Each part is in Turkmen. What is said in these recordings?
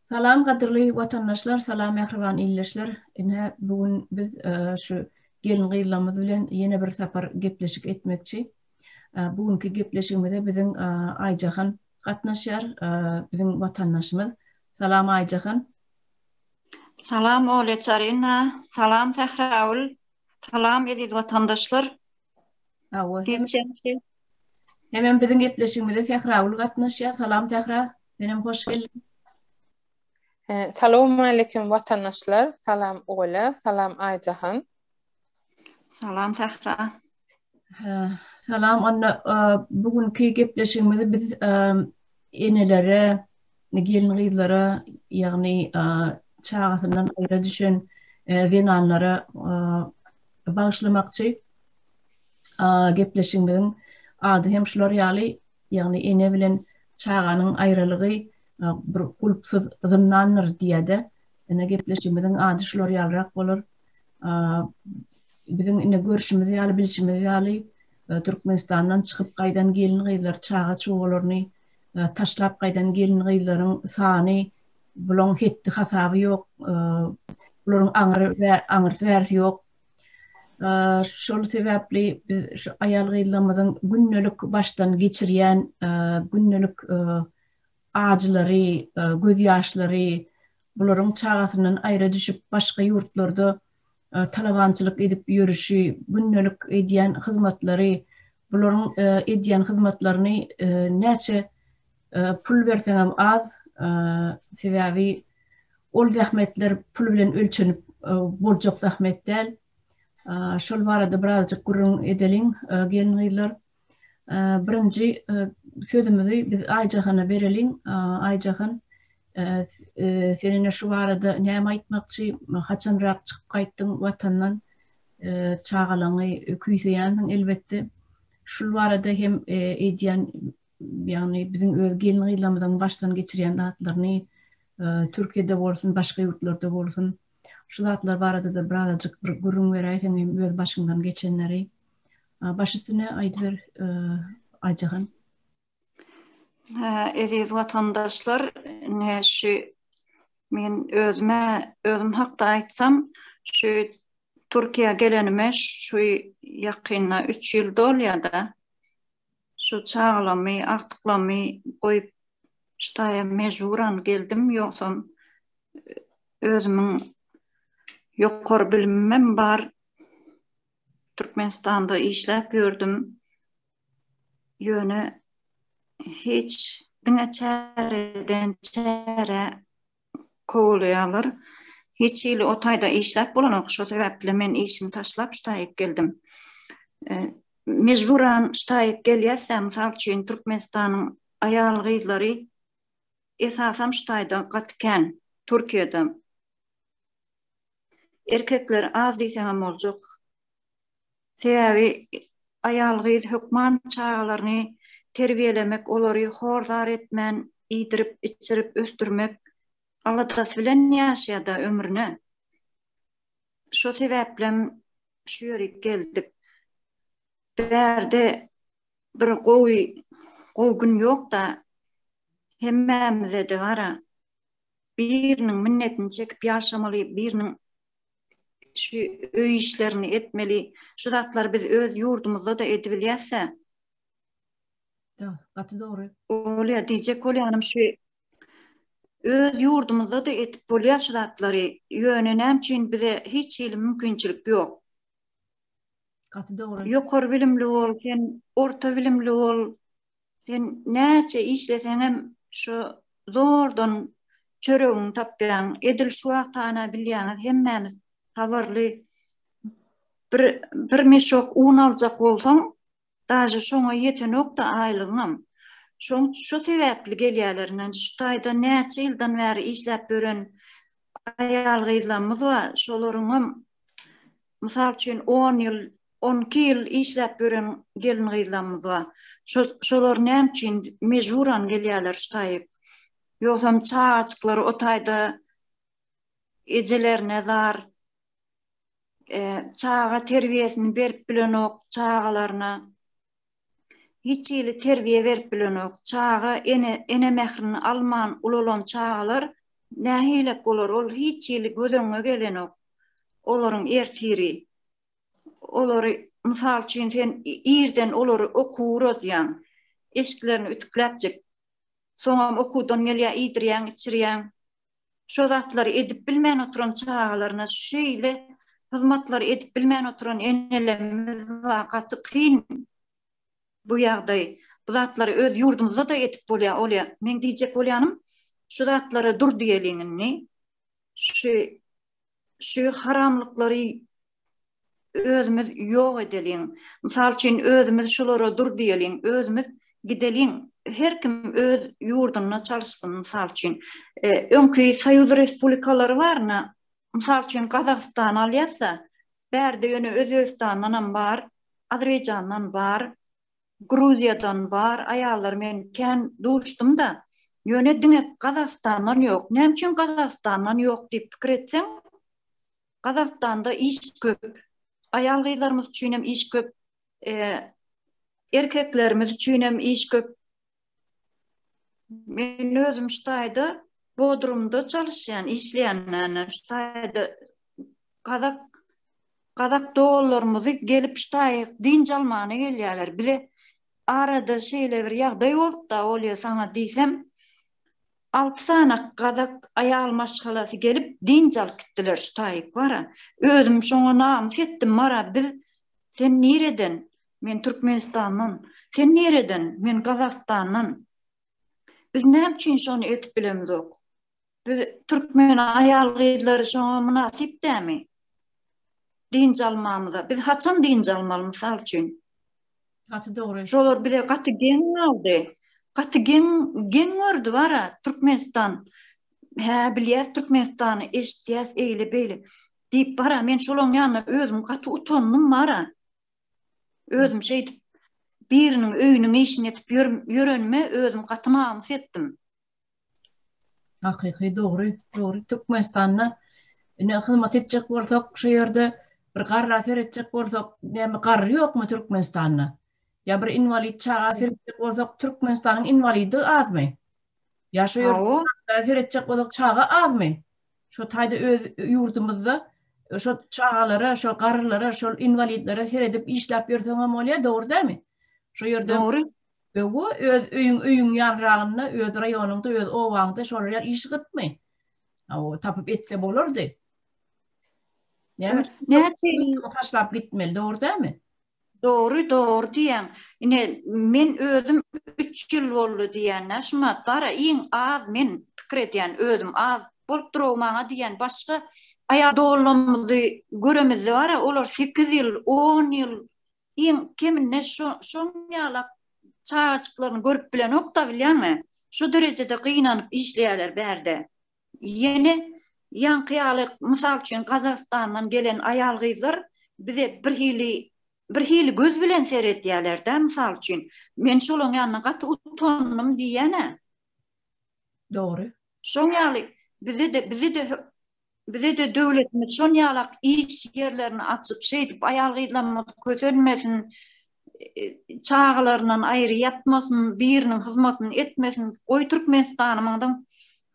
Salam gadyrly watandaşlar salam mähriban ildeşler ine bu gün biz şu gelin gyzlamyz bilen ýene bir sapar gepleşik etmekçi bu günki gepleşigimize biziň Aýjahan gatnaşýar biziň watandaşymyz salam Aýjahan Salam Olya Çaryna salam Sähraul salam eziz watandaşlar. Hawa. Geçenki. Hemem biziň gepleşigimize Sähra uly gatnaşýar. Salam Sähra. Senem hoş geldiň. Salam aleyküm watandaşlar. Salam Ola, salam Aýjahan. Salam Sähra. Salam onda e, bu günki gepleşigimizi biz e, enelere Indi gelin-gyzlara, ýagny çagasyndan aýra düşen zenanlara bagyşlamakçy gepleşigimiziň ady hem şular ýaly, ýagny ene bilen çaganyň aýralygy bir gulpsyz zyndandyr diýede. Indi gepleşigimiziň ady şular ýalyrak bolar. Biziň indi görşümiz ýaly, bilşimiz ýaly, Türkmenistandan çykyp gaýdan gelin-gyzlar çaga-çugalaryny taşlap gaýdan gelin-gyzlaryň sany bulaň hetdi-hasaby ýok. Bularyň aňry we aňyrsy-bärsi ýok. Şol sebäpli biz şu aýal-gyzlarymyzyň gündelik başdan geçirýän gündelik ajylary, gözýaşlary, bularyň çagasyndan aýra düşüp başga ýurtlarda talabançylyk edip ýörüşi, gündelik edýän hyzmatlary, bularyň edýän hyzmatlaryny näçe pul berseňem az, sebäbi ol zähmetler pul bilen ölçenip boljak zähmet däl. Şol barada birazjyk gürrüň edeliň, gelin-gyzlar. Birinji sözümizi biz Aýjahana bereliň. Aýjahan, sen ine şu barada näme aýtmakçy? Haçanrak çykyp gaýtdyň Watandan? Çagalaňy küýseýänsiň elbetde. Şul barada hem eýdýän, ýagny biziň öz gelin-gyzlarymyzyň başdan geçirýän zatlaryny, Türkiýede bolsun, başga ýurtlarda bolsun, şu zatlar barada-da birazajyk bir gürrüň beräýseň hem öz başyňdan geçenleri. Baş üstüne aýdyber Aýjahan. Eziz watandaşlar, ne şu men özüme özüm hakda aýtsam, şu Türkiýä gelenime şu ýakynda 3 ýyl dolýar-da. Şu çagalamy, agtyklamy goýup ştaýa mejburan geldim, ýogsam özümiň ýokary bilimimem bar. Türkmenistanda işläp ýördüm. Ýöne hiç diňe çäreden çärä kowalaýarlar. Hiç hili o taýda işläp bolanok. Şo sebäpli men işimi taşlap şu taýa geldim. Mejburan şu taýa gelýäs-ä, mysal üçin Türkmenistanyň aýal-gyzlary esasan şu taýda gaty kän, Türkiýede. Erkekler az diýseňem boljak. Sebäbi aýal gyz hökman çagalaryny terbiýelemek, olary hor-zar etmän iýdirip-içirip ösdürmek aladasy bilen ýaşaýar-da ömrüne. Şo sebäplem şu ýörik geldik. Bärde bir gowy gowy gün ýok-da, hemmämize-de bar-a. biriniň minnetini çekip ýaşamaly, biriniň şu öý işlerini etmeli. Şu zatlary biz öz ýurdumyzda-da edibilýäs-ä. Da, gaty dogry. Bolýa, diýjek bolýanym şu öz ýurdumyzda-da edip bolýa şu zatlary. Ýöne näme üçin bize hiç hili mümkinçilik ýok? Gaty dogry. Ýokary bilimli bol, sen orta bilimli bol. Sen näçe işleseňem şu zordan çöregiňi tapýaň. Edil şu wagt hana bilýäňiz hemmämiz habarly bir bir meşok un aljak bolsaň, daže şoňa ýetenokda aýlygyňam. Şoň şu sebäpli gelýärlerinden şu taýda näçe ýyldan bäri işläp ýören aýal-gyzlarymyz bar, şolaryňam Mysal üçin, on ýyl, on iki ýyl işläp ýören gelin-gyzlarymyz bar. Şolar näme üçin mejburan gelýärler şu taýy? Ýogsam çagajyklary o taýda ejelerine zar, çaga terbiýesini berip bilenok çagalaryna. Hiç hili terbiýe berip bilenok. Çaga ene ene mährini alman ulalan çagalar nähilek bolar ol hiç hili göz öňüňe gelenok. Olaryň ertiri. Olary mysal üçin sen irden olary okuw uradýaň. Eşiklerini ütükläpjik. Soňam okuwdan gelýär iýdirýäň içirýäň. şo zatlary edip bilmän oturan çagalaryna şeýle hyzmatlary edip bilmän oturan enelerimiz bar gaty kyn bu ýagdaý bu zatlary öz ýurdumyzda da edip bolýar olýa meň diýjek bolýanym şu zatlara dur diýeliň indi şu şu haramlyklary özümiz ýok edeliň. Mysal üçin, özümiz şulara dur diýeliň, özümiz gideliň. Her kim öz ýurdunda çalyşsyn, mysal üçin. E, öňki Soýuz Respublikalary baryna, mysal üçin, Gazagystany alýas-da, bärde ýöne Özbegistandan hem bar, Azerbaýjandan bar, Gruziýadan bar aýallar men kän duşdum-da, ýöne diňe Gazagystandan ýok. Näme üçin Gazagystandan ýok diýip pikir etseň, Gazagystanda iş köp. Aýal-gyzlarymyz üçinem iş köp, erkeklerimiz üçinem iş köp. Men özüm şu taýda Bodrumda çalyşýan, işleýän näme şu taýda gazak gazak doganlarymyzy gelip şu taýy dynç almana gelýärler. Bize arada şeýle bir ýagdaý bolupda, Olýa saňa diýsem, alty sany gazak aýal maşgalasy gelip dynç alyp gitdiler şu taýy. Bara özüm şoňa namys etdim, Mara biz sen nireden Men Türkmenistandan. Sen nireden? Men Gazagystandan. Biz näme üçin şony edip bilemizok? Biz türkmen aýal-gyzlary şoňa mynasyp dämi? Dynç almamyza. Biz haçan dynç almaly mysal üçin? Gaty dogry. Şolar bize gaty geň galdy. Gaty geň geň gördi bara Türkmenistan. Hä, bilýäs Türkmenistany, eşitýäs eýle-beýle diýip bara men şolaň ýanyna özüm gaty utandym bara. Özüm şeýdip biriniň öýüniň işini edip ýörenime özüm gaty namys etdim. Hakyky dogry, dogry Türkmenistanda ine hyzmat etjek bolsak şu ýerde bir garra seretjek bolsak näme garry ýokmy Türkmenistanda? Ýa bir inwalid çaga seretjek bolsak Türkmenistanyň inwalidi azmy? Ýa şu ýerde seretjek bolsak çaga azmy? Şo taýda öz ýurdumyzda şo çagalara, şo garrylara, şo inwalidlere seredip işläp ýörseň hem bolýar, dogry dälmi? Şo ýerde Dogry. Öwu öz öýüň öýüň ýanragynda, öz raýonyňda, öz obaňda şolar ýaly iş gytmy? Aw, tapyp etse bolardy. Näme? Näçe ýyl taşlap gitmeli, dogry dälmi? Dogry dogry diýýäň. Ine men özüm üç ýyl boldy diýýänä şuma gara iň az men pikir edýän özüm az bolup durow maňa diýýän başga aýal doganlarymyzy göremizde bara olar sekiz ýyl on ýyl iň keminde şo şoň ýalak çagajyklaryny görüp bilenokda bilýäňmi şu derejede gynanyp işleýäler bärde. Ýene ýaňky ýaly, mysal üçin, Gazagystandan gelen aýal-gyzlar bize birhili birhili göz bilen seredýäler-dä, mysal üçin. Men şolaň ýanynda gaty utandym diýýän-ä. Dogry. Şoň ýaly, bize-de bize-de bize-de döwletimiz şon ýalak iş ýerlerini açyp, şeýdip aýal-gyzlarymyz kösenmesin, çagalaryndan aýry ýatmasyn, biriniň hyzmatyny etmesin, goý Türkmenistanymyňdyň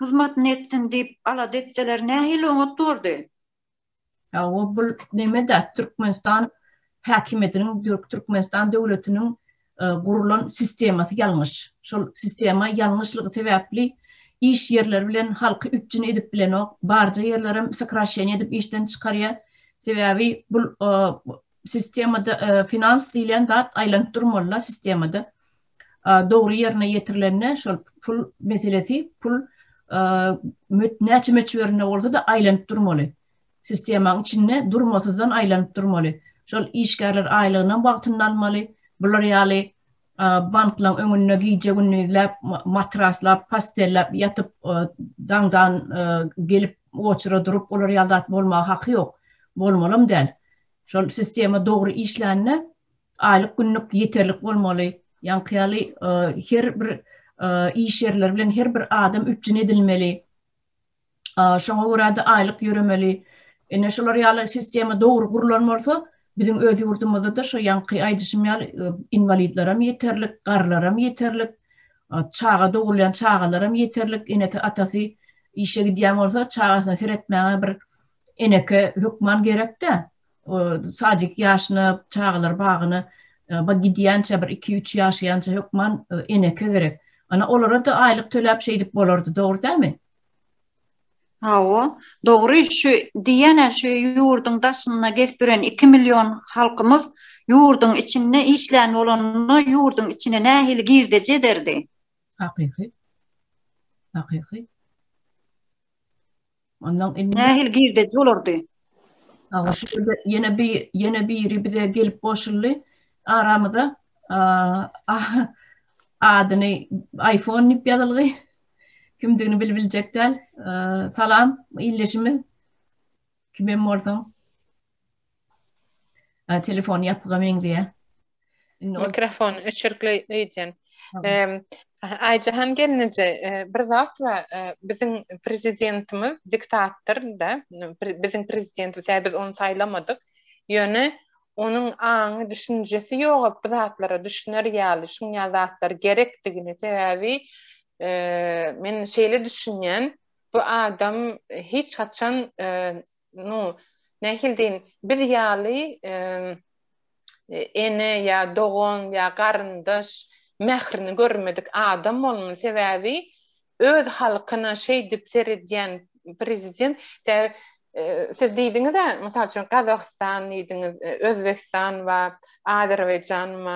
hyzmatyny etsin diýip alada etseler nähili oňat bordy? Hawa bul neme-de Türkmenistan häkimiýetiniň dürk Türkmenistan döwletiniň gurulan sistemasy ýalňyş. Şol sistema ýalňyşlygy sebäpli iş ýerleri bilen halky üpjün edip bilenok. Barja ýerlerem sokraşeniýa edip işden çykarýa. Sebäbi bul sistemada finans diýlen zat aýlanyp durmaly-da sistemada. Dogry ýerine ýetirilende şol pul meselesi, pul näçe möçberinde bolsa-da aýlanyp durmaly. Sistemaň içinde durmasyzdan aýlanyp durmaly. Şol işgärler aýlygyny wagtynda almaly. Bular ýaly Banklaň öňünde gije-gündizläp, matraslap, postelläp ýatyp, daňdan gelip oçura durup, olar ýaly zat bolmaga haky ýok. Bolmalam däl. Şol sistema dogry işlände, aýlyk-günlük ýeterlik bolmaly. Ýaňky ýaly her bir iş ýerleri bilen her bir adam üpjün edilmeli. Şoňa görä-de aýlyk ýöremeli. Ine, şular ýaly sistema dogry gurlan bolsa, biziň öz ýurdumyzda-da şo ýaňky aýdyşym ýaly, inwalidlerem ýeterlik, garrylaram ýeterlik, çaga dogulýan çagalaram ýeterlik, enesi, atasy işe gidýän bolsa, çagasyna seretmäge bir eneke hökman gerek-dä. sadik ýaşyna, çagalar bagyna gidýänçä bir iki-üç ýaşaýança hökman eneke gerek. Ana olara-da aýlyk töläp şeýdip bolardy, dogry dälmi? Hawa, dogry. Şu diýýän-ä şu ýurduň daşynda gezip ýören iki million halkymyz ýurduň içinde işlän bolanda ýurduň içine nähili girdeji ederdi? Hakyky. Hakyky. Ondan indi Nähili girdeji bolardy? Aga şu ýerde ýene bir ýene biri bize gelip goşuldy. Aramyza ah, adyny iPhone diýip ýazylgy. Kimdigini bilip biljek däl. Salam, ildeşimiz. Kimem bolsaň. Ha, telefon ýapyga meňzeýär. Indi ol- Mikrofon öçürikli öýdýän. Tamam. Em, Aýjahan gelneje, e, bir zat bar, e, biziň prezidentimiz diktator-da, n- pre- biziň prezidentimiz, hä, biz ony saýlamadyk, ýöne onuň aňy, düşünjesi ýogap bu zatlara düşüner ýaly, şuň ýaly zatlar gerekdigini, sebäbi, e, men şeýle düşünýän, Bu adam hiç haçan nu nähili deýin biz ýaly ene ýa dogan ýa garyndaş mährini görmedik adam bolmaly sebäbi öz halkyna şeýdip seredýän prezident siz diýdiňizä mysal üçin Gazagystan diýdiňiz Özbegistan we Azerbaýjan we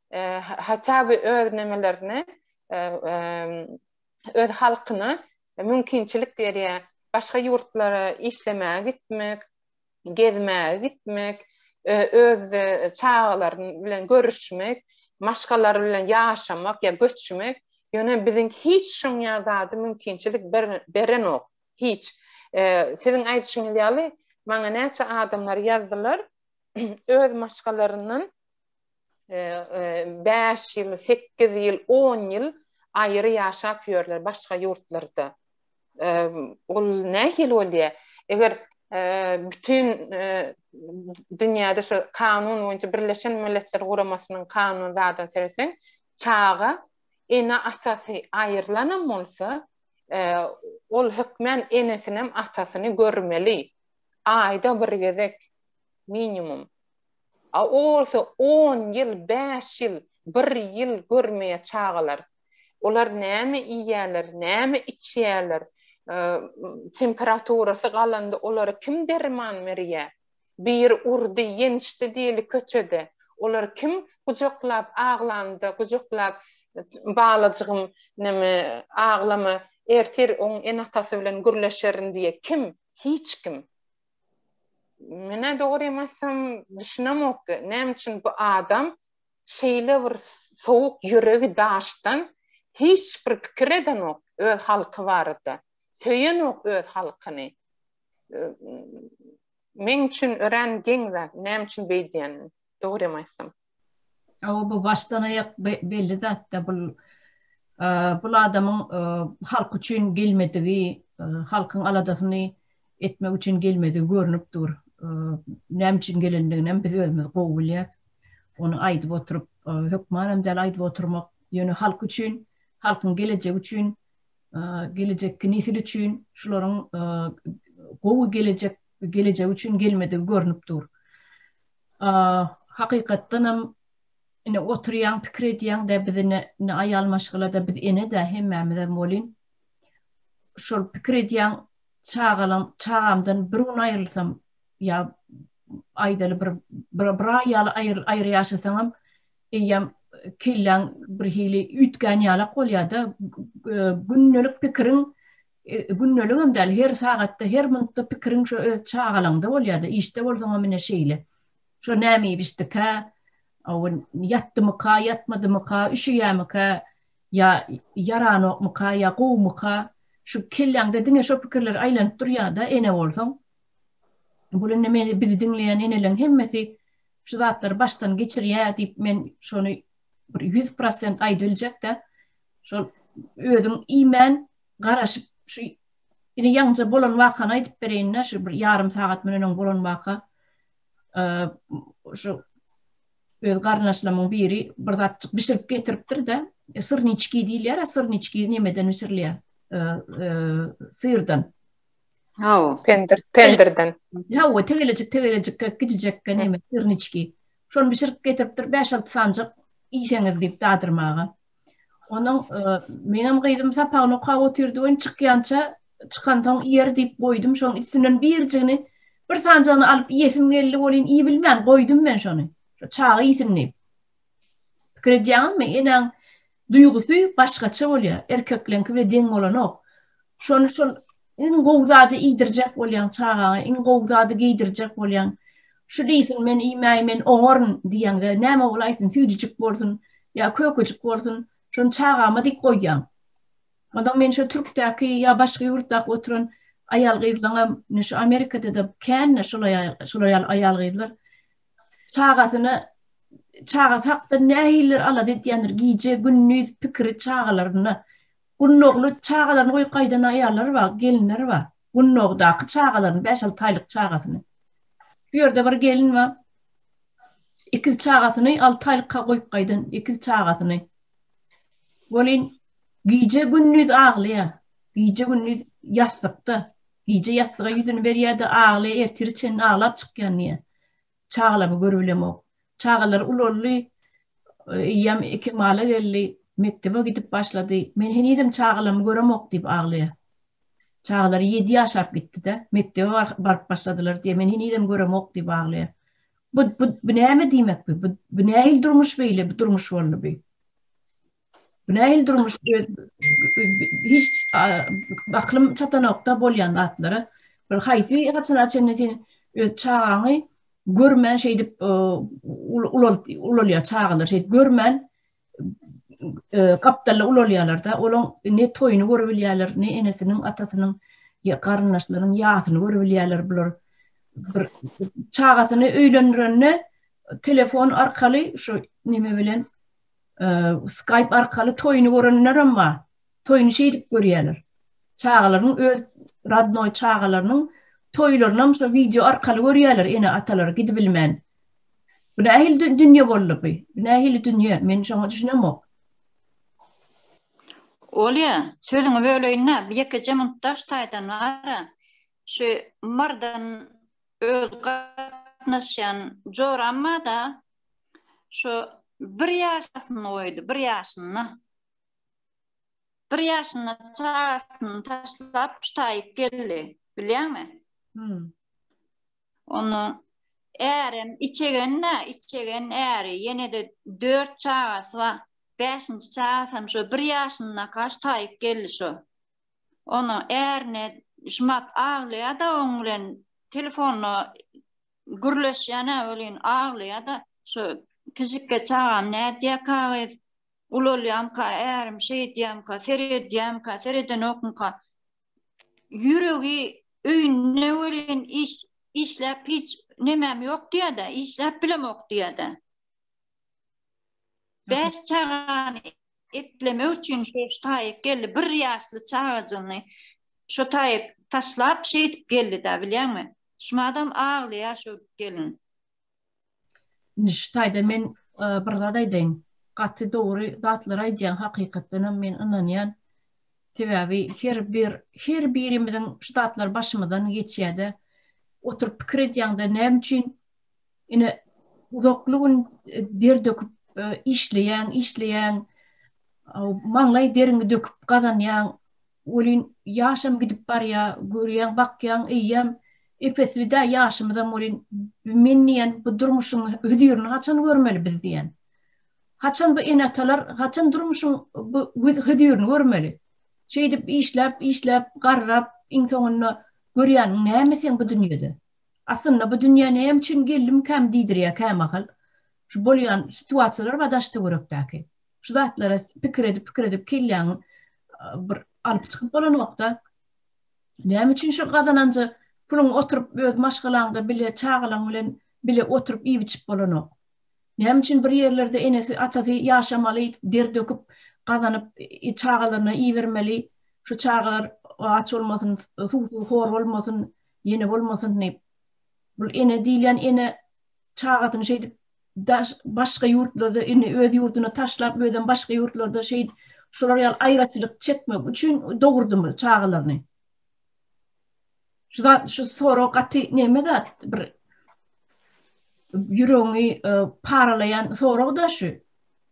hatda bu öz nemelerine öz halkyna mümkinçilik berýär. Başga ýurtlara işlemäge gitmek, gezmäge gitmek, öz çagalaryň bilen görüşmek, maşgalar bilen ýaşamak ýa göçmek, ýöne biziň hiç şoň ýaly zady mümkinçilik berenok, hiç. Siziň aýdyşyňyz ýaly, maňa näçe adamlar ýazdylar, öz maşgalaryndan bäş ýyl, sekiz ýyl, on ýyl aýry ýaşap ýörler başga ýurtlarda. Ol nähili bolýar? Eger bütin dünýäde şu kanun boýunça Birleşen Milletler Guramasynyň kanuny zadyna seretseň, çaga ene-atasy aýrylanam bolsa, ol hökmän enesinem atasyny görmeli. Aýda bir gezek minimum. A o bolsa on ýyl, bäş ýyl, bir ýyl görmeýär çagalar. Olar näme iýýärler, näme içýärler, temperaturasy galanda olara kim derman berýär? Biri urdy, ýençdi diýeli köçede. Olary kim gujaklap aglanda, gujaklap Balajygym näme aglama, ertir oň ene-atasy bilen gürleşerin diýýär. Kim? Hiç kim. Menä dogrymy aýtsam, düşünemok, näme üçin bu adam şeýle bir sowuk ýüregi daşdan hiç bir pikir edenok öz halky barada. Söýenok öz halkyny. Meň üçin örän geň zat, näme üçin beýdýänini, dogrymy aýtsam. Hawa bu başdan aýak belli zatda bul bul adamyň halk üçin gelmedigi halkyň aladasyny etmek üçin gelmedigi görnüp dur. Näme üçin gelendiginem biz özümiz gowy bilýäs. Ony aýdyp oturyp hökmanam däl aýdyp oturmak. Ýöne halk üçin, halkyň gelejegi üçin, gelejekki nesil üçin şularyň gowy gelejek gelejegi üçin gelmedigi görnüp dur. Hakykatdanam ine oturýaň pikir edýäňdä biz ine ine aýal maşgalada biz enedä hemmämizem welin şol pikir edýäň çagalam çagamdan bir gün aýrylsam ýa aýdaly bir bir aý ýaly aýry ýaşasaňam eýýäm kelläň birhili üýtgän ýalak bolýada gündelik pikiriň Gündeligem däl, her sagatda, her minutda pikiriň şo öz çagalaňda bolýar-da, işde bolsaňam ine şeýle. Şo näme iýip içdikä, owun ýatdymyka, ýatmadymyka, üşüýämikä, ýa ýaranokmyka, ýa gowumyka, şu kelläňde diňe şo pikirler aýlanyp durýar-da, ene bolsaň. Bu indi meni bizi diňleýän eneleriň hemmesi şu zatlary başdan geçirýär diýip men şony bir ýüz prosent aýdybiljek däl. Şol özüň iýmän, garaşyp şu indi ýaňja bolan wakany aýdyp bereýin-dä şu bir ýarym sagat munden öň bolan waka şu öz garyndaşlarymyň biri bir zatjyk bişirip getiripdir-de syrniçki diýilýär-ä syrniçki nemeden bişirilýär syrdan Hawa, pendir, pendirden. Hawa, tegelejik, tegelejik, gijijek gene sirniçki. Şony bişirip getiripdir, 5-6 sanjyk iýseňiz diýip dadyrmaga. Onuň meňem gyzym sapagyny okap otyrdy we çykýança çykansoň iýer diýip goýdum, şoň üstünden birjigini bir sanjagyny alyp iýesim geldi welin iýibilmän goýdum men şony. Çaga iýsin diýip. Pikir edýäňizmi, enäň duýgusy başgaça bolýar, erkekleňki bilen deň bolanok. Şony şol Iň gowy zady iýdirjek bolýaň çagaňa, iň gowy zady geýdirjek bolýaň. Şu diýsin, men iýmäý, men oňaryn diýeňde, näme bolaýsyn, süýdüjik bolsun ýa kökejik bolsun, şony çagama diýip goýýaň. Onsoň men şu türkdäki ýa başga ýurtdaky oturan aýal-gyzlaňam, indi şu Amerikada-da kän-de şular ýaly aýal-gyzlar, çagasyna, çagasy hakda nähilidir alada edýändir, gije-gündiz pikiri çagalarynda. Gunnogly çagalaryny goýup gaýdan aýallary bar, gelinleri bar. Gunnogdaky çagalaryny, bäş-alty aýlyk çagasyny. Şu ýerde bir gelin bar. Ikiz çagasyny alty aýlykka goýup gaýdan, ikiz çagasyny. Welin, gije-gündiz aglaýar. Gije-gündiz ýassykda. Gije ýassyga ýüzüni berýär-de, aglaýar, ertire çenli aglap çykýan diýýär. Çagalary görüp bilemok. Çagalar ulaldy. Eýýäm kemala geldi. Mekdebe gidip başlady. Men henizem çagalarmy göremok diýip aglaýar. Çagalary ýedi ýaşap gitdi-de, mekdebe baryp başladylar diýýär. Men henizem göremok diýip aglaýar. Bu, bu, bu näme diýmek bu? Bu, bu nähili durmuş beýle, bu durmuş boldy bu? Günähil durmuş hiç aklym çatanokda bolýan zatlara. Bir haýsy haçana çenli sen öz çagaňy görmän şeýdip ulalýar çagalar şeýdip görmän gapdalda ulalýarlar-da, olaň ne toýuny görüp bilýärler, ne enesiniň, atasynyň, garyndaşlarynyň ýasyny görüp bilýärler bular. Bir çagasyny öýlendirende telefon arkaly şu neme bilen Skype arkaly toýuny görenlerem bar. Toýuny şeýdip görýärler. Çagalaryň öz radnoý çagalarynyň toýlarynam şo wideo arkaly görýärler ene-atalar gidibilmän. Bu nähili dünýe boldy bu? Bu nähili dünýe? Men şoňa düşünemok. Olýa, sözüňi böleýin-dä, bir ýekeje minut daş taýdan bar-a. Şu Mardan öz gatnaşýan joram bar-da, Şu bir ýaşyny goýdy, bir ýaşyny. Bir ýaşyny çagasyny taşlap çutaýyp geldi, bilýäňmi? Hmm. Onu ärem içegenne, içegen äri, ýene de dört çagasy bar. Bäşinji çagasy hem şu bir ýaşyna kaş taýyp geldi şu. Onu ärine şumat aglaýa da oň bilen telefonda gürleşýän-ä welin, aglaýa-da, şu kiçikge çagam nädýäkä gyz, ulalýamka, ärim şeýdýämka, seredýämka, seredenokmyka, ýüregi öýünde welin, iş, işläp hiç nemem ýok diýýä-dä, işläp bilemok diýýä-dä. Bäş çagany. Eklemek üçin şu taýyk geldi. Bir ýaşly çagajygyny şu taýyk taşlap şeýdip geldi-de, bilýäňmi? Şumadam aglaýar şu gelin. Indi şu taýda men e, bir zat aýdaýyn. Gaty dogry zatlar aýdýaň, hakykatdan hem men ynanýan. Sebäbi her bir her birimiziň şu zatlar başymyzdan geçýär-de. Oturyp pikir edýäňde näme üçin Ine uzakly gün der döküp işleýän, işleýän maňlaý deriňi döküp gazanýan welin ýaşam gidip barýar, görýän, bakýan eýýäm epesli-dä ýaşymyzam welin men diýen bu durmuşyň hözirini haçan görmeli biz diýen. Haçan bu ene-atalar haçan durmuşyň bu hözirini görmeli? Şeýdip işläp, işläp garrap iň soňunda görýäniň näme sen bu dünýede? Aslynda bu dünýä näme üçin geldimkäm diýdirýär kämahal. Şu bolýan situasiýalar bar daş-töwerekdäki. Şu zatlara pikir edip-pikir edip kelläňi bir alyp çykyp bolanokda. Näme üçin şu gazananja puluň oturyp öz maşgalaňda bile çagalaň bilen bile oturyp iýip-içip bolanok. Näme üçin bir ýerlerde enesi, atasy ýaşamaly, der döküp gazanyp çagalaryna ibermeli. Şu çagalar aç bolmasyn, suwsuz, hor bolmasyn. Ýene bolmasyn diýip. Bul ene diýilýän ene çagasyny şeýdip daş başga ýurtlarda indi öz ýurduny taşlap özem başga ýurtlarda şeý şular ýaly aýraçylyk çekmek üçin dogurdymy çagalaryny. Şu zat şu sorag gaty neme zat bir ýüregiňi e, paralaýan sorag da şu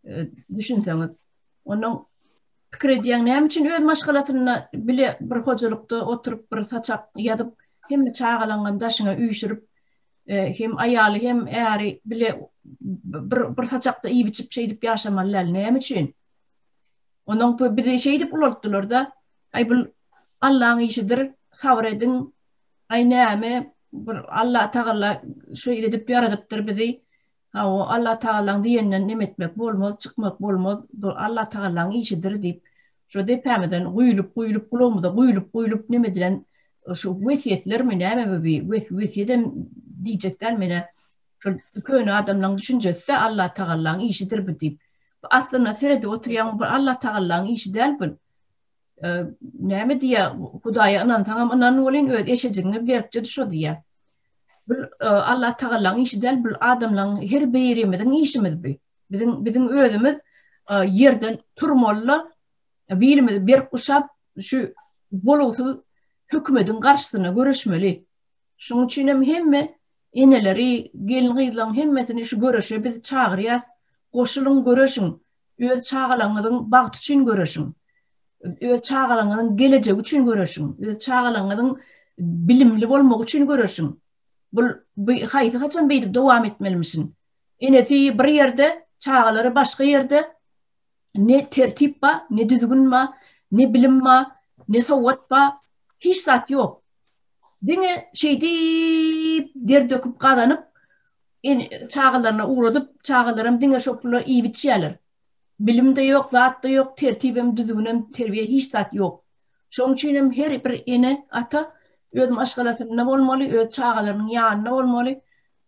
e, düşünseňiz. Onuň Pikir edýäň, näme üçin öz maşgalasynda bile bir hojalykda oturyp, bir saçak ýazyp, hemme çagalaňam daşyňa üýşürip, hem aýaly, hem äri bile bir bir saçakda iýip-içip şeýdip ýaşamaly däl, näme üçin? Onuň bu bizi şeýdip ulaltdylar-da, aý bul Allaň işidir, sabyr ediň, aý näme, bir Allatagala şeýle edip ýaradypdyr bizi, Hawa, Allatagalaň diýeninden nem etmek bolmaz, çykmak bolmaz, bu Allatagalaň işidir diýip, şo depämizden guýlup-guýlup, gulagymyza guýlup-guýlup nem edilen şu wesýetlermi, näme bu bi, wes, wesýedem diýjek däl menä, şol köne adamlaň düşünjesi-dä Allatagalaň işidir bu diýip. Bu aslynda seredip oturýaň, bu Allatagalaň işi däl bu. Näme diýýär, Hudaýa ynansaňam ynanbolýyn, öz eşejigiňi beripdi şo diýýär. Bul Allah Tagallaň işi däl, bul adamlaň her birimiziň işimiz bu. Biziň biziň özümiz ýerden turmaly, birimiz berk guşap şu bolugsyz hökümediň garşysyna göreşmeli. Şunuň üçin hem hemme eneleri, gelin-gyzlaň hemmesini şu göreşe biz çagyrýas. Goşulyň, göreşiň. Öz çagalaryňyzyň bagty üçin göreşiň. Öz çagalaryňyzyň gelejegi üçin göreşiň. Öz çagalaryňyzyň bilimli bolmagy üçin göreşiň. Bul bu haýsy haçan beýdip dowam etmelimişin? Enesi bir ýerde, çagalary başga ýerde. Ne tertip ba, ne düzgün ba, ne bilim ba, ne sowat ba, hiç zat ýok. Diňe şeýdip der döküp gazanyp, Ene çagalaryna ugradyp, çagalaram diňe şo pula iýip-içýärler. Bilim-de ýok, zat-da ýok, tertibem, düzgünem, terbiýe hiç zat ýok. Şoň üçin hem her bir ene, ata öz maşgalasynda bolmaly, öz çagalarynyň ýanynda bolmaly.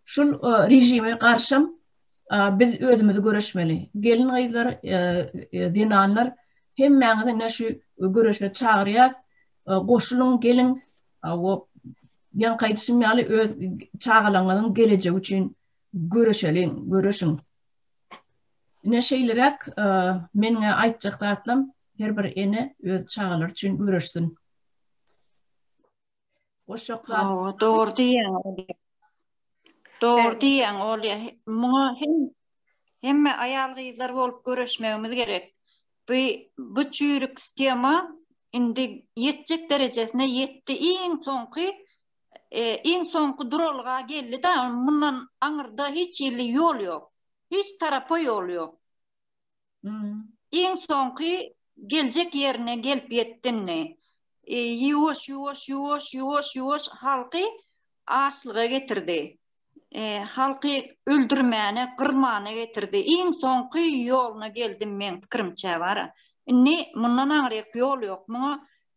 Şul režime garşam biz özümizi göreşmeli. Gelin-gyzlar, zenanlar hemmäňizi ine şu göreşe çagyrýas. Goşulyň, geliň. Ýaňky aýdyşym ýaly öz çagalaňyzyň gelejegi üçin göreşeliň, göreşiň. Ine şeýleräk meniň aýtjak zatlarym her bir ene öz çagalary üçin göreşsin. Goşaklar. Dogry diýýän. Dogry diýýän ol ýa. Muňa hem hemme aýal gyzlar bolup göreşmegimiz gerek. Bu bu çüýrük tema indi ýetjek derejesine ýetdi. Iň soňky e, iň soňky duralga geldi da mundan aňyrda hiç ýerli ýol ýok. Hiç tarapa ýol ýok. Hmm. Iň soňky geljek ýerine gelip ýetdindi. E, ýuwaş ýuwaş ýuwaş ýuwaş ýuwaş halky açlyga getirdi. e, halky öldürmäne, gyrmana getirdi. Iň soňky ýoluna geldim men pikirimçe bara. Indi mundan aňryk ýol ýok. Muňa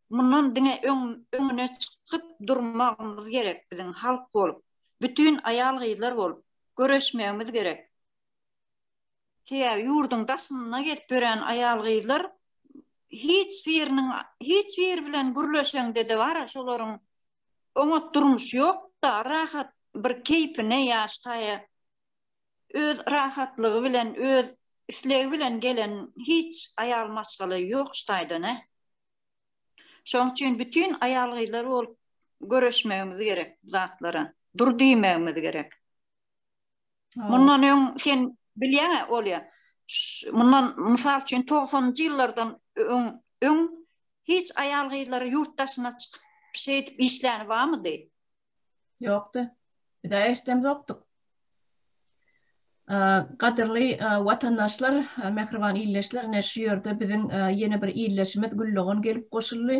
mundan diňe öň öňüne çykyp durmagymyz gerek biziň halk bolup. Bütün aýal gyzlar bolup göreşmegimiz gerek. Sebäbi ýurduň daşynda gezip ýören aýal gyzlar hiç biriniň hiç bir bilen gürleşeňde de bar şolaryň oňat durmuş ýok-da, rahat bir keýpine ýaş taýa öz rahatlygy bilen, öz islegi bilen gelen hiç aýal maşgala ýok şu taýdan-a. Şonuň üçin bütin aýal-gyzlar bolup göreşmegimiz gerek bu zatlara, dur diýmegimiz gerek. Mundan öň sen bilýäňä Olýa. Mundan mysal üçin 90-njy ýyllardan öň öň hiç aýal gyzlary ýurt daşyna çykyp şeýdip işläni barmydy? Ýokdy. Biz eşdem ýokdyk. Gadyrly watandaşlar, mähriban ildeşler, ine şu ýerde biziň ýene bir ildeşimiz Güldogan gelip goşuldy.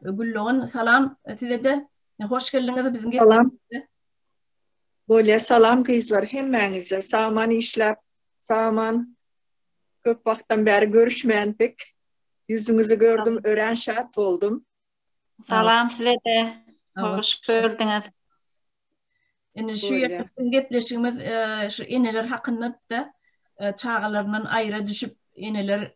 Güldogan salam size-de. Hoş geldiňiz biziň. Salam. Bolýa salam gyzlar hemmäňize sagman işläp sagman köp wagtdan bäri görüşmändik ýüzüňizi gördüm örän şat boldum. Salam sizede hoş gördüňiz. Indi şu ýerde biziň gepleşigimiz şu eneler hakynda-da çagalaryndan aýra düşüp eneler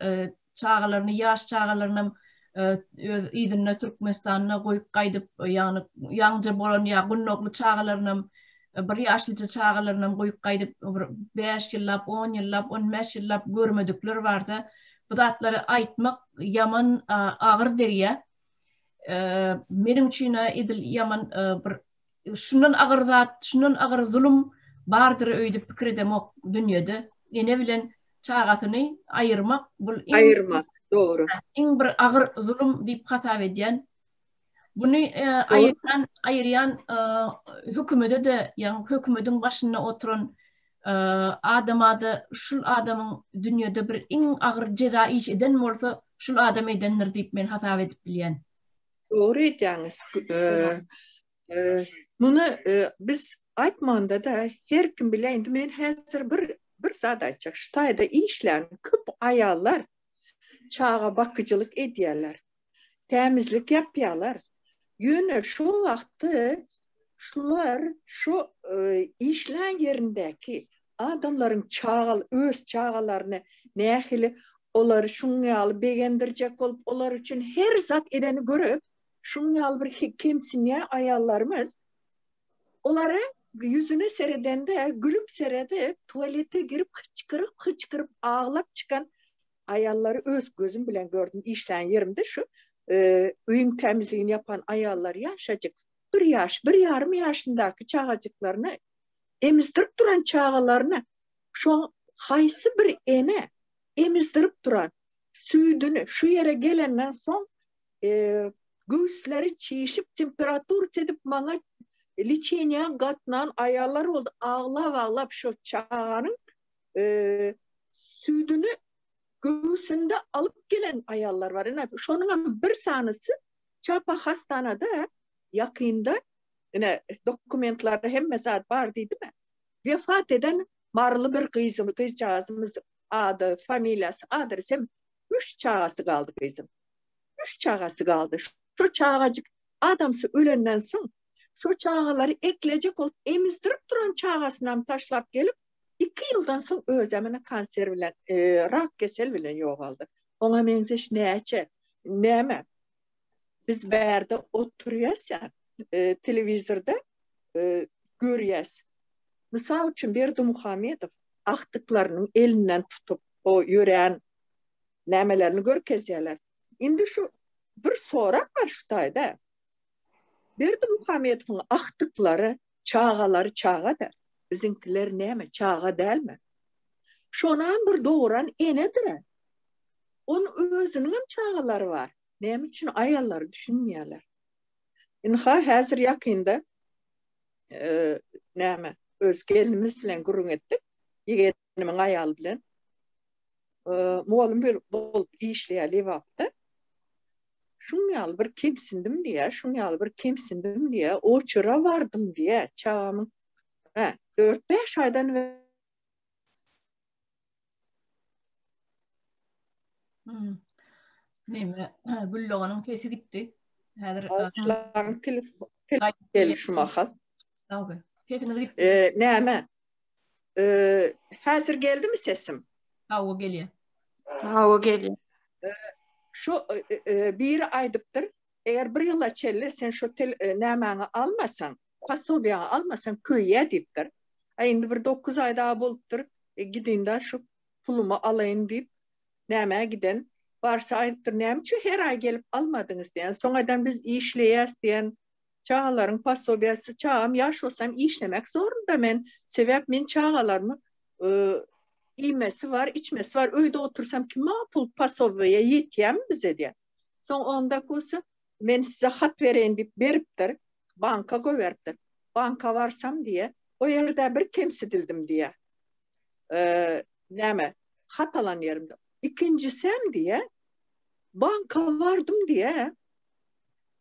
çagalaryny ýaş çagalarynam öz yzynda Türkmenistanda goýup gaýdyp ýagny ýaňja bolan ýa gundagly çagalarynam bir ýaşlyja çagalarynam goýup gaýdyp bir bäş ýyllap on ýyllap on bäş ýyllap görmedikler barda bu zatlary aýtmak ýaman agyr degýä meniň üçin edil ýaman bir şundan agyr zat, şundan agyr zulum bardyr öýdüp pikir edemok dünýede. Ene bilen çagasyny aýyrmak bul iň aýyrmak dogry. Iň bir agyr zulum diýip hasap edýän. Buny e, aýyrýan aýyrýan e, hökümede de, ýagny hökümediň başynda oturan e, adamada şul adamyň dünýede bir iň agyr jeza iş eden bolsa, şul adam edendir diýip men hasap edip bilýän. Dogry aýdýaňyz. Muny biz aýtmanda-da her kim bilýär. Indi men häzir bir bir zat aýtjak. Şu taýda işlän köp aýallar çaga bakyjylyk edýärler. Tämizlik ýapýarlar. Ýöne şol wagty Şular şu işlän ýerindäki adamlaryň çagal öz çagalaryny nähili olary şuň ýaly begendirjek bolup, olar üçin her zat edeni görüp, şuň ýaly bir kemsinýä aýallarymyz. Olary ýüzüne seredende gülüp seredip, tualete girip hyçkyryp-hyçkyryp aglap çykan aýallary öz gözüm bilen gördüm. Işlän ýerimde şu öýüň tämizligini ýapan aýallar ýaşajyk. bir ýaş, bir ýarym ýaşyndaky çagajyklaryny emizdirip duran çagalaryny şo haýsy bir ene emizdirip duran süýdüni şu ýere gelenden soň e, göwsleri çişip temperatur edip maňa liçeniýa gatnan aýallar boldy aglap aglap şu çaganyň e, süýdüni göwsünde alyp gelen aýallar bar. Ine şonuň hem bir sanysy Çapa hassanada ýakynda ine dokumentlarda hemme zat bar diýdimi? Wefat eden maryly bir gyzym, gyzjagazymyz ady, familiýasy, adresy hem üç çagasy galdy gyzym. Üç çagasy galdy. Şu çagajyk adamsy ölenden soň şu çagalary eklejek bolup emizdirip duran çagasynam taşlap gelip Iki ýyldan soň özem ene kanser bilen, rak kesel bilen ýogaldy. Oňa meňzeş näçe, näme? Biz bärde oturýas ýa, telewizorda görýäs. Mysal üçin Berdimuhamedow agtyklarynyň elinden tutup, o ýörän nämelerini görkezýärler. Indi şu bir sorag bar şu taýda. Berdimuhamedowyň agtyklary Çagalary çaga-da, biziňkiler näme, çaga dälmi? Şonam bir doguran enedir-ä. Onuň özüniňem çagalary bar, näme üçin aýallary düşünmeýärler? Ynha, häzir ýakynda, näme, öz gelnimiz bilen gürrüň etdik. Gelnimiň aýaly bilen mugallym bolup işleýär Lebapda. Şuň ýaly bir kemsindim diýýär, şuň ýaly bir kemsindim diýýär, oçura bardym diýýär, çagamyň hä, 4-5 aýdan Neme, Gülloganyň sesi gitdi. Häzir telefon geldi şu mahal. Sesiňiz gitdi. Näme? Häzir geldimi sesim? Hawa gelýär. Hawa gelýär. Şu biri aýdypdyr, eger bir ýyla çenli sen şu nämäňi almasaň, posobiýaňy almasaň köýýä diýipdir. A indi bir dokuz aý dagy bolupdyr, gidinda şu pulumy alaýyn diýip, nämä giden. Barsa aýdypdyr, näme üçin her aý gelip almadyňyz diýen. Soň eden biz işleýäs diýen, çagalaryň posobiýasy çagam ýaş bolsa hem işlemek zorunda men sebäp men çagalarymy iýmesi bar içmesi bar öýde otursam kime pul posobiýa ýetýämi bize diýýär soň onda kursa men size hat bereýin diýip beripdir banka goýberipdir banka barsam diýýär o ýerde bir kemsidildim diýýär näme hat alan ýerimde ikinjisem diýýär banka bardym diýýär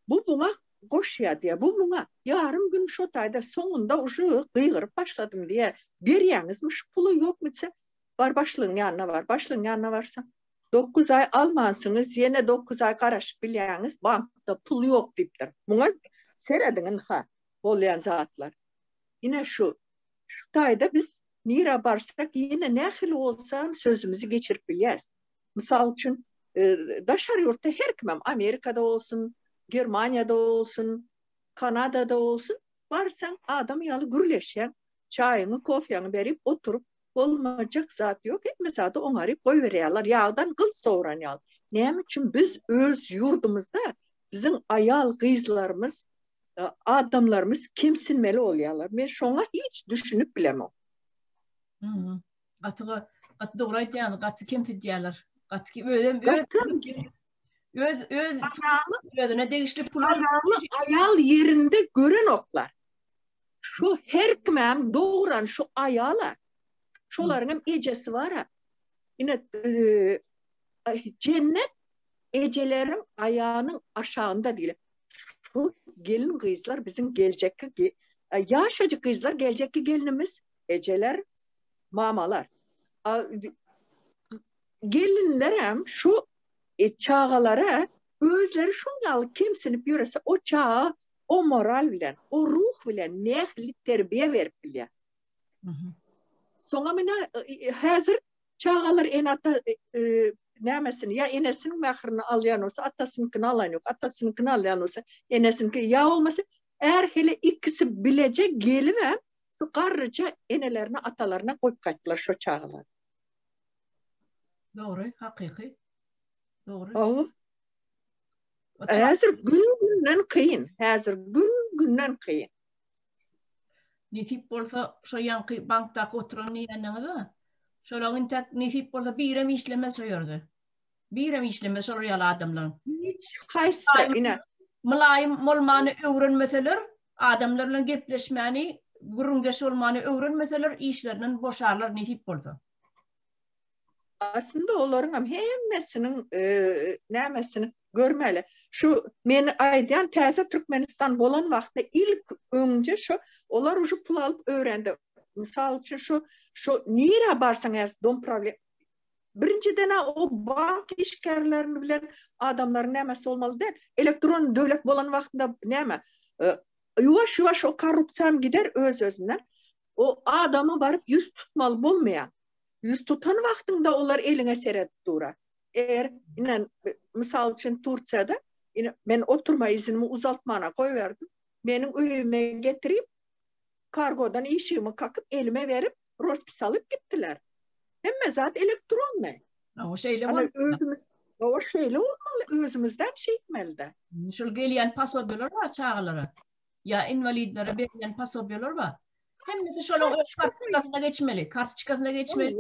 Bu muňa goşýar diýýär, bu muňa ýarym gün şo taýda soňunda uje gygyryp başladym diýýär. Berýäňizmi şu puly ýokmy diýse, bar başlygyň ýanyna bar. Başlygyň ýanyna barsaň, dokuz aý almansyňyz, ýene dokuz aý garaşyp bilýäňiz, bankda pul ýok diýipdir. Muňa serediň ynha, bolýan zatlar. Ine şu, şu taýda biz nirä barsak ýene nähili bolsam sözümizi geçirip bilýäris. Mysal üçin, daşary ýurtda her kimem, Amerikada bolsun, Germaniýada bolsun, Kanadada bolsun, barsaň adam ýaly gürleşýäň, çaýyňy, kofýaňy berip oturyp, bolmajak zat ýok, hemme zady oňaryp goýberýärler, ýagdan gyl sowran ýaly. Näme üçin biz öz ýurdumyzda biziň aýal-gyzlarymyz, adamlarymyz kemsinmeli bolýarlar? Men şoňa hiç düşünip bilemok. gaty gaty dogry aýdýaňyz gaty kemsidýärler gaty özem öz öz özüne degişli pul aýal ýerinde gören oklar şu her kimem dogran şu aýala şolaryň hem ejesi bar ha ine jennet ejelerim aýanyň aşagynda diýip şu gelin gyzlar biziň geljekki ýaşajyk gyzlar geljekki gelinimiz ejeler mamalar. Gelinler hem şu e, çagalara özleri şun ýaly kemsinip ýörese o çaga o moral bilen, o ruh bilen nähili terbiýe berip bilýär. Soňa mine e, häzir çagalar en ata e, e, nämesini ya enesiniň mährini alýan bolsa atasynyňkyny alan ýok atasynyňkyny alýan bolsa enesiniňki ýa bolmasa är hele ikisi bileje gelip hem Şu garryja enelerine, atalaryna goýup gaýtdylar şo çagalary. Dogry, hakyky. Dogry. Hawa. Häzir gün-günden kyn, häzir gün-günden kyn. Nesip bolsa, şo ýanky bankdaky oturan diýeniňiz-a? Şolaň intäk nesip bolsa birem işlemez şo ýerde. Birem işlemez şol real adamlaryň. Hiç haýsy ine. Mylaýym bolmany öwrenmeseler, adamlar bilen gepleşmäni, gürrüňdeş bolmany öwrenmeseler, işlerinden boşarlar nesip bolsa. Aslynda olaryň hem hemmesiniň e, nämesini görmeli. Şu men aýdýan täze Türkmenistan bolan wagtda ilk öňje şu olar uje pul alyp öwrendi. Mysal üçin şu şu nira barsaň äs dom problem Birinjiden-ä o bank işgärlerini bilen adamlaryň nämäsi bolmaly däl. Elektron döwlet bolan wagtynda näme? Ýuwaş-ýuwaş o korrupsiýam gider öz-özünden. O adama baryp ýüz tutmaly bolmaýar. Ýüz tutan wagtyňda olar eliňe seredip durar. Eger, ine, mysal üçin Tursiýada, ine, men oturma iznimi uzaltmana goýberdim. Meniň öýüme getirip, kargodan işigimi kakyp, elime berip, rospis alyp gitdiler. Hemme zat elektronny. Awa şeýle bol. Özümiz Awa şeýle bolmaly, özümizden şeýtmelide. Şul gelýän pasobeler bar çagalara. Ýa inwalidlere berlen pasobeler bar. Hemmesi şolar öz kartçykasyna geçmeli, kartçykasyna geçmeli.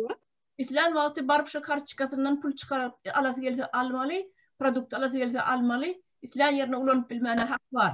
Islän wagty baryp şu kartçykasyndan pul çykaryp alasy gelse almaly, produkt alasy gelse almaly. Islän ýerine ulanyp bilmäne hak bar.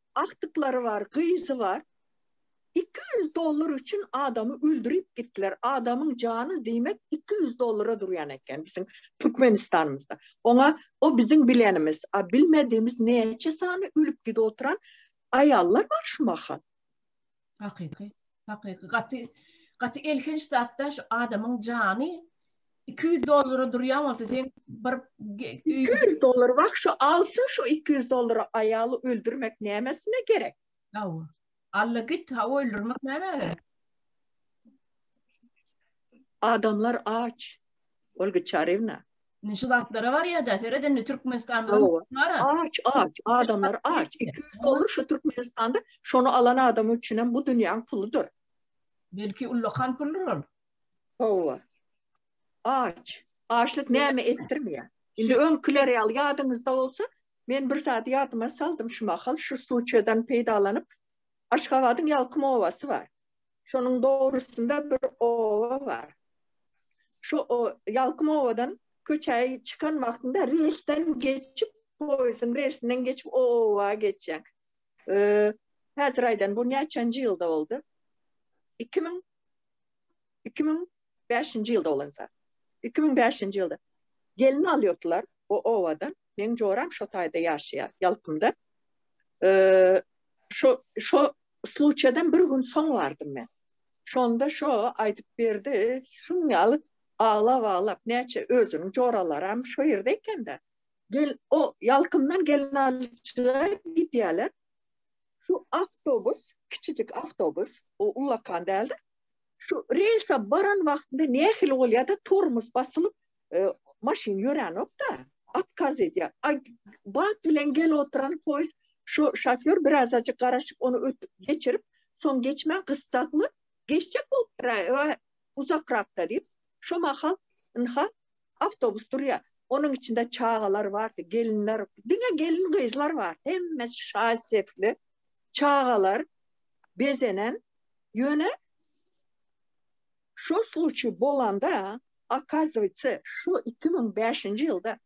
agtyklary bar, gyzy bar. Iki ýüz dollar üçin adamy öldürip gitdiler. Adamyň jany diýmek iki ýüz dollara durýan eken biziň Türkmenistanymyzda. Oňa o biziň bilenimiz, a bilmedimiz näçe sany ölüp gidip oturan aýallar bar şu mahal. Hakyky. Hakyky. Gaty gaty elhenç zatda şu adamyň jany 200 dollara durýan bolsa sen bir 200 dollar bak şu alsyn şu 200 dollara aýaly öldürmek nämesine gerek? Hawa. Alla git ha öldürmek näme gerek? Adamlar aç. Olga Çarewna. Indi şu zatlara barýa-da, seret indi Türkmenistanda Hawa. nara. Aç, aç, adamlar aç. 200 dollar şu Türkmenistanda şony alan adam üçin hem bu dünýäň puludyr. Belki ullakan puldur ol. Hawa. Aç. Açlyk näme etdirmeýär. Indi öňküleri ýaly ýadyňyzda bolsa, men bir zat ýadyma saldym şu mahal, şu suçeden peýdalanyp, Aşgabadyň Ýalkym obasy bar. Şonuň dogrusynda bir oba bar. Şu Ýalkym obadan köçä çykan wagtyňda relsden geçip, poýezdiň relsinden geçip o oba geçýäň. Häzir aýdan, bu näçenji ýylda boldy? Iki müň, iki müň bäşinji ýylda bolanysa, iki müň bäşinji ýylda gelin alýardylar o obadan. Meň joram şo taýda ýaşaýar, Ýalkymda. Şo, şo sluçýadan bir gün soň bardym men. Şonda şo aýdyp berdi, şuň ýaly aglap-aglap, näçe özüniň joralaram şo ýerde eken-dä. Gel, o Ýalkymdan gelin alyjyga gidýärler. Şu awtobus, kiçijik awtobus, o ullakan däldir, şu reýlsa baran wagtynda nähili bolýar-da, tormoz basylyp, e, maşyn ýöränok-da, otkaz edýär. A bat bilen gelip oturan poýez şu şofýor birazajyk garaşyp, ony ötüp geçirip, soň geçmän gyssagly geçjek bolupdyr-a, uzakrakda diýip, şo mahal ynha Awtobus durýar. Onuň içinde çagalar bardy, gelinler, diňe gelin-gyzlar bar. Hemmesi şaý-sepli çagalar bezenen. Ýöne şo sluçiý bolanda, okazywýetsa, şo iki müň bäşinji ýylda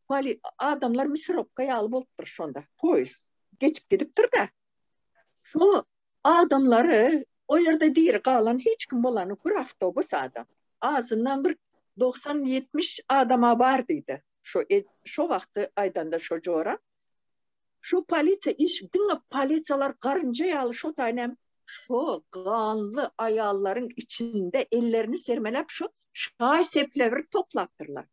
poli, adamlar misirowka ýaly bolupdyr şonda. Poýezd geçip gidipdir-de, Şu adamlary o ýerde diri galan hiç kim bolany bir awtobus adam. Azyndan bir dogsan ýetmiş adama bar diýdi. Şo şo wagty aýdanda şo jora. Şu polisiýa iş diňe polisiýalar garynja ýaly şo taýyn hem şo ganly aýallaryň içinde ellerini sermeläp şo şaý-seplewri toplapdyrlar.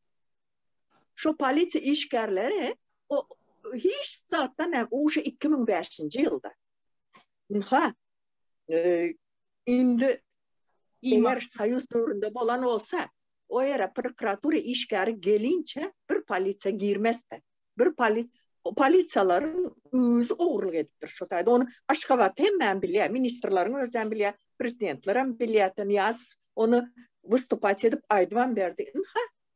Şu polisiýa işgärleri o hiç zatdan näm uşa 2005-nji ýylda. Ynha, indi eger soýuz döwründe bolan bolsa, o ýere prokuratura işgäri gelinçe bir polisiýa girmezdi. Bir polis polisiýalaryň özi ogurlyk edipdir şu taýda. Ony Aşgabat hemmäm bilýär, ministrleriň özem bilýär, prezidentlerem bilýär, Nyýazow ony wystupasiýa edip aýdybam berdi. Ynha,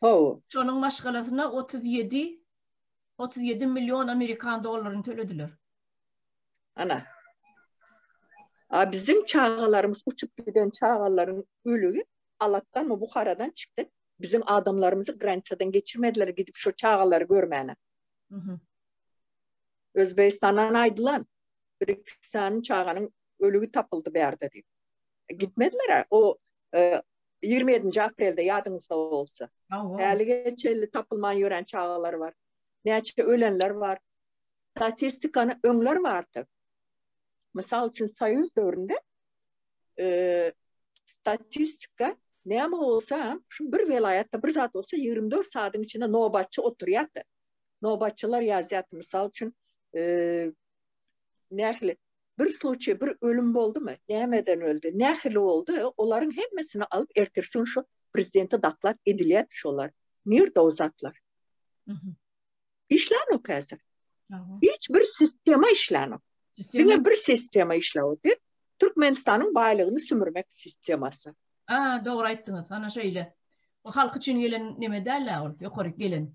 Hawa. Şonuň maşgalasyna otuz ýedi, otuz ýedi million amerikan dollaryny tölediler. Ana. A biziň çagalarymyz uçup giden çagalaryň ölügi Alatdanmy, Buharadan çykdy. Biziň adamlarymyzy granisadan geçirmediler gidip şu çagalary görmäne. Mhm. Özbegistandan aýdylan bir iki sany çaganyň ölügi tapyldy bärde diýip. Gitmediler-ä. O e, Ýigrimi ýedinji aprelde ýadyňyzda bolsa. Hälige çenli tapylman ýören çagalar bar. Näçe ölenler bar. Statistikany öňler bardy. Mysal üçin soýuz döwründe statistika näme bolsa, şu bir welaýatda bir zat bolsa ýigrimi dört saatyň içinde nobatçy oturýardy. Nobatçylar ýazýardy. Mysal üçin nähili bir sluçiý, bir ölüm boldumy, nämeden öldi, nähili boldy, olaryň hemmesini alyp ertirsi gün şu prezidente doklad edilýärdi şolar. Nirde o zatlar? Işlänok häzir. Hiç bir sistema işlänok. Diňe bir sistema işläwdi. Türkmenistanyň baýlygyny sümürmek sistemasy. A, dogry aýtdyňyz. Ana şeýle. Bu halk üçin gelen neme däl-ä ol, ýokary gelen.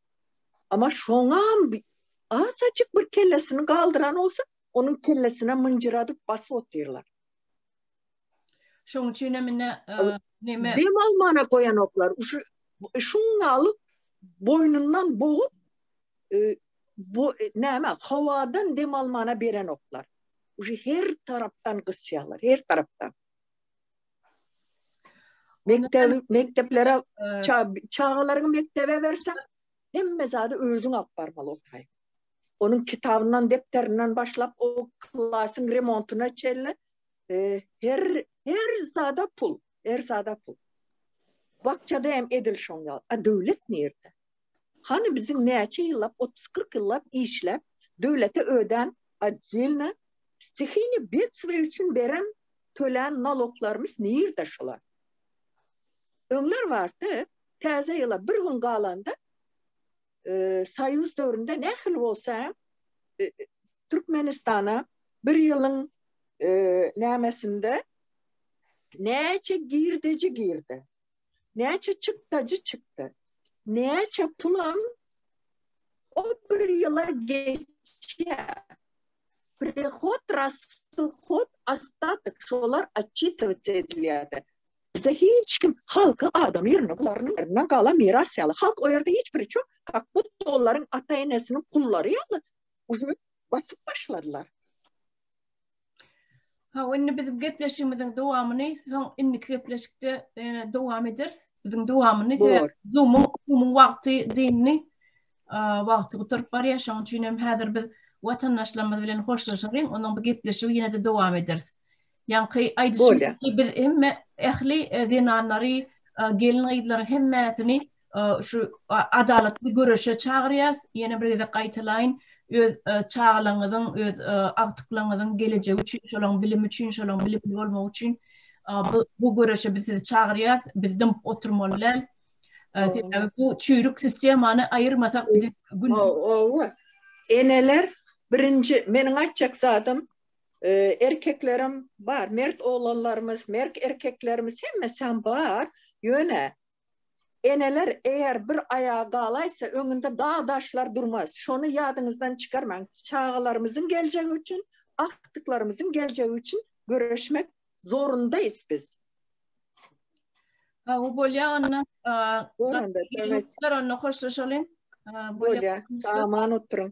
Ama şoňam asaçyk bir kellesini galdyran bolsa, onuň kellesine mynjyradyp basyp otyrlar. Şoň üçin hem indi näme? Dem almana goýanoklar. Şu şuňa alyp boýnundan bogup bu näme? Howadan dem almana berenoklar. Şu her tarapdan gysýarlar, her tarapdan. Mekdebi, mekdeplere çagalaryňy mekdebe berseň, hemme zady özüň alyp barmaly okaý. Onuň kitabyndan, depderinden başlap o klasyň remontyna çenli e, her her zada pul, her zada pul. Bakçada hem edil şoň ýaly. A döwlet nirde? Hany biziň näçe ýyllap, otuz-kyrk ýyllap işläp, döwlete ödän otdelna stihini betstwo üçin beren, tölän naloglarymyz nirde şular? Öňler bardy, Täze ýyla bir gün galanda, soýuz döwründe nähili bolsa hem Türkmenistana bir ýylyň nämesinde näçe girdeji girdi? Näçe çykdajy çykdy. Näçe pulam o bir ýyla geçýär. Prihod, rastuhod, ostatok şolar otçitowats edilýärdi. Bize hiç kim halky adam ýerine golaryny ýerinden galan miras ýaly. Halk o ýerde hiç biri çok, kak budda olaryň ata-enesiniň gullary ýaly uje basyp başladylar. Ha, indi biziň gepleşigimiziň dowamyny soň indiki gepleşikde ýene dowam ederis. Biziň dowamyny Zoom-yň Zoom-yň wagty dynny wagty gutaryp barýar. Şonuň üçin hem häzir biz watandaşlarymyz bilen hoşlaşalyň, ondan bu gepleşigi ýene-de dowam ederis. Ýaňky aýdyşym ýaly biz hemme ähli e, zenanlary, e, gelin-gyzlary hemmäsini şu adalatly göreşe çagyrýas. Ýene bir gezek gaýtalaýyn, öz çagalaryňyzyň, öz agtyklaryňyzyň gelejegi üçin, şolaryň bilimi üçin, şolaryň bilimli bolmagy üçin bu göreşe biz sizi çagyrýas. Biz dymyp oturmaly däl. Sebäbi bu çüýrük sistemany aýyrmasak biziň gün. Hawa. Eneler birinji, meniň aýtjak zadym, erkeklerem bar, mert oglanlarymyz, merk erkeklerimiz hemmesi hem bar. Ýöne Eneler eger bir aýagy galaýsa öňünde dag daşlar durmaz şony ýadyňyzdan çykarmaň çagalarymyzyň geljegi üçin agtyklarymyzyň geljegi üçin göreşmek zorundaýys biz. Hawa bolýa onda onda hoşlaşalyň. Bolýa saman oturyň.